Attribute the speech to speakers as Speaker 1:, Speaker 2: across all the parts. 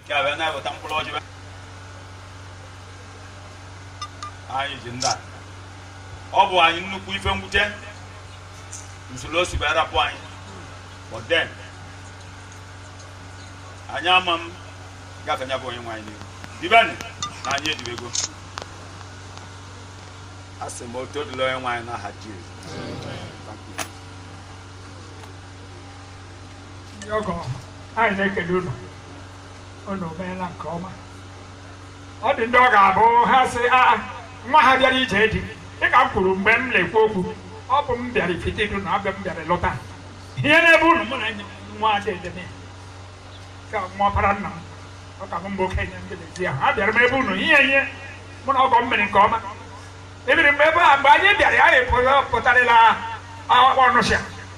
Speaker 1: nke a wee na-eweta mkpụrụ ọjị anyị ji ndị a ọ bụ anyị nnukwu ife mwute usoro o si wee rapụ anyị but then anyị ama m gafe nya bụ onye nwe anyị n'ihu dibeni na anyị edibego a sị m otuto dụlụ onye nwe anyị n'aha Jizọs
Speaker 2: ndị ọgọ anyị na-ekele unu unu meela nke ọma ọ dị ndị ọ ga-abụ ha sị aa nwa ha bịara ije di dịka m kwuru mgbe m na-ekwu okwu ọ bụ m bịara Ifitedunu abịa m bịara lụta ihe n'ebe unu mụ na nwa dede m ka nwa ọpara nna m ọ ka bụ m bụ okenye m bịara ahụ a bịara m ebe unu ihe ihe mụ na ọgọ m mere nke ọma ebiri mgbe ebe a mgbe anyị bịara ya anyị pụtarịla Ọnịsha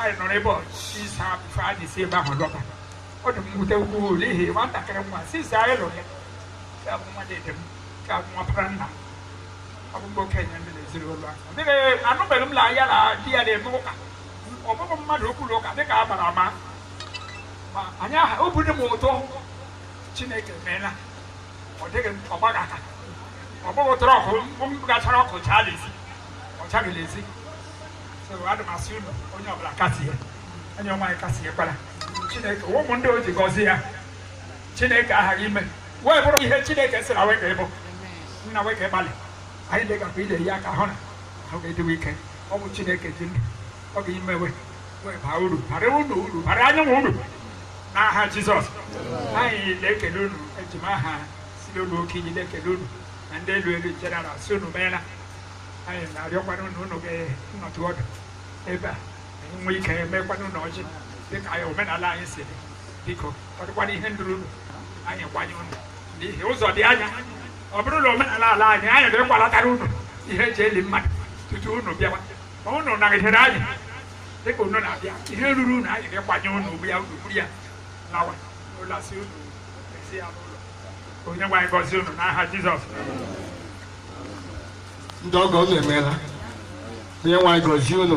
Speaker 2: anyị nọrọ ụbọchị ise before anyị si ebe ahụ lọta ọ dị m mwute ukwuu n'ihi nwatakịrị nwa since anyị lụrụ ya ka abụ nwa dede m ka abụ nwa ọpara nna m ọ bụ m bụ okenye ndị n'ezinụlọ ahụ anụbeghị m la ya na di ya na-eme ụka ọ bụghị mmadụ okwu na ụka dịka a gbara ama ma anyị aha obi dị m ụtọ chineke meela ọ dịghị m ọ gbaghị aka ọ bụghị ụtọrọ ọkụ m gachara ọkụ chaa n'ezi ọ chaghị n'ezi so ana m asị unu onye ọbụla kasie onye nwe anyị kasiekwala chineke ụmụ ndị o ji gọzie ya chineke aghaghị ime we bụrụ ihe chineke sị na we ga-ịbụ na we ka gbalị anyị dịgakwa ile ya ka hụ na ahụ ga-adị we ike ọ bụ chineke ji ndụ ọ ga-ime we wee baa uru bara unu uru bara anyịnwa uru n'aha jizọs anyị na-ekele unu eji m aha ezinụlọ Okeiyi na-ekele unu na ndị elu elu general sị unu meela anyị na-arịọkwanụ na unu ga-anọtụ ọdụ ebe a anyị nwee ike emekwanụ unu ọjị dịka anyị omenala anyị si dị biko ọ dịkwana ihe ndụrụ unu anyị kwanye unu n'ihi ụzọ dị anya ọ bụrụ na omenala ala anyị anyị ga-agwalatara unu ihe eji eli mmadụ tutu unu bịawa ma unu nagidere anyị dịka unu na-abịa ihe ruru unu anyị ga-ekwanye unu ugbu a unu buru ya lawa lasịa unu esie ya n'ụlọ onye nwe anyị gọzie unu n'aha Jizọs
Speaker 3: ndị ọgọ unu emeela onye nwe anyị gọzie unu